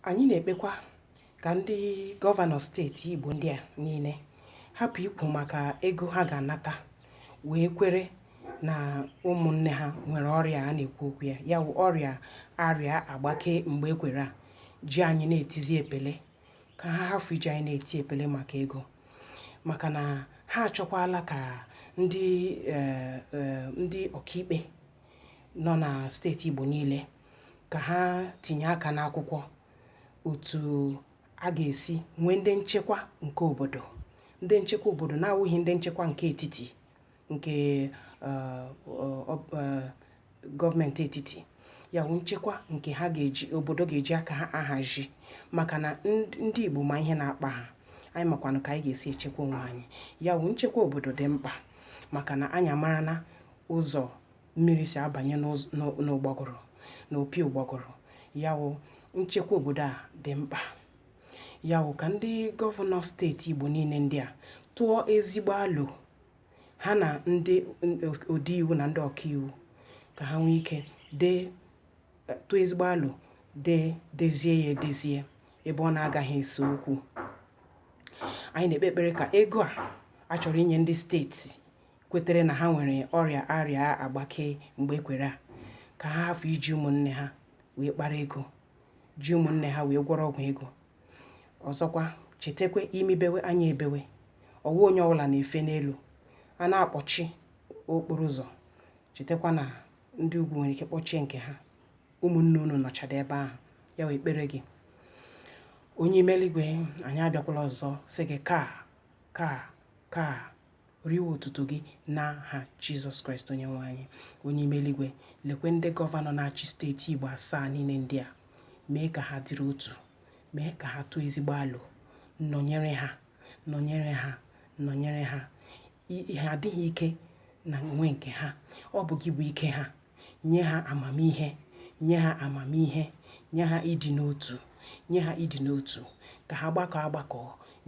anyị na-ekpekwa ka ndị gọvanọ steeti Igbo ndị a niile hapụ ikwu maka ego ha ga-anata wee kwere na ụmụnne ha nwere ọrịa a na-ekwu okwu ya ya bụ ọrịa arịa agbake mgbe ekwere a ji anyị na-etizi epele ka ha hafụ iji anyị na-eti epele maka ego maka na ha achọkwala ka ndị eh, eh, ndị ọkaikpe nọ na steeti Igbo niile ka ha tinye aka n'akwụkwọ otu a ga-esi nwee ndị nchekwa nke obodo ndị nchekwa obodo na-awụghị ndị nchekwa nke etiti nke eh, eh, gọọmenti etiti ya bụ nchekwa nke ha ga-eji obodo ga-eji aka ha ahazi maka na ndị Igbo ma ihe na-akpa ha anyị makwanụ ka anyị ga-esi echekwa onwe anyị ya bụ nchekwa obodo dị mkpa maka na anyị amara na ụzọ mmiri si abanye n'ụgbọgụrụ na opi ụgbọgụrụ ya wụ nchekwa obodo a dị mkpa ya wụ ka ndị gọvanọ steeti Igbo niile ndị a tụọ ezigbo alo ha na ndị ode iwu na ndị ọkaiwu ka ha nwee ike dee tụọ ezigbo alo dee dezie ya edezie ebe ọ na-agaghị ese okwu anyị na-ekpe ekpere ka ego a a chọrọ inye ndị steeti kwetere na ha nwere ọrịa arịa agbake mgbe ekwere a ka ha hafụ iji ụmụnne ha wee kpara ego ji ụmụnne ha wee gwọrọ ọgwụ ego ọzọkwa chetakwa imi bewe anya ebewe ọ wụghị onye ọbụla na-efe n'elu a na-akpọchi okporo ụzọ chetakwa na ndị ugwu nwere ike kpọchie nke ha ụmụnne unu nọchara ebe ahụ ya wee kpere gị onye ime eluigwe anyị abịakwala ọzọ sị gị ka ka ka riwe otuto gị n'aha Jizọs Kraịst onye nwe anyị onye ime eluigwe lekwe ndị gọvanọ na-achị steeti Igbo asaa niile ndị a mee ka ha dịrị otu mee ka ha tụọ ezigbo alo nọnyere ha nọnyere ha nọnyere ha ha adịghị ike na onwe nke ha ọ bụ gị bụ ike ha Nye ha amamihe, nye ha amamihe, nye ha ịdị n'otu, nye ha ịdị n'otu, ka ha gbakọọ agbakọ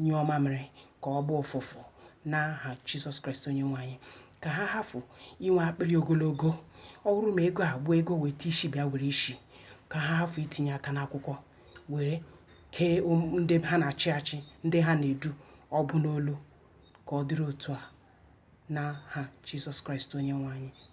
nyụọ mamịrị ka ọ gbọọ ụfụfụ n'aha Jizọs Kraịst onye nwe anyị ka ha hafụ inwe akpịrị ogologo ọ bụrụ ma ego a bụ ego weta isi bịa were isi ka ha hafụ itinye aka n'akwụkwọ were kee um, ndị ha na-achị achị ndị ha na-edu ọ bụ n'olu ka ọ dịrị otu a n'aha Jizọs Kraịst onye nwe anyị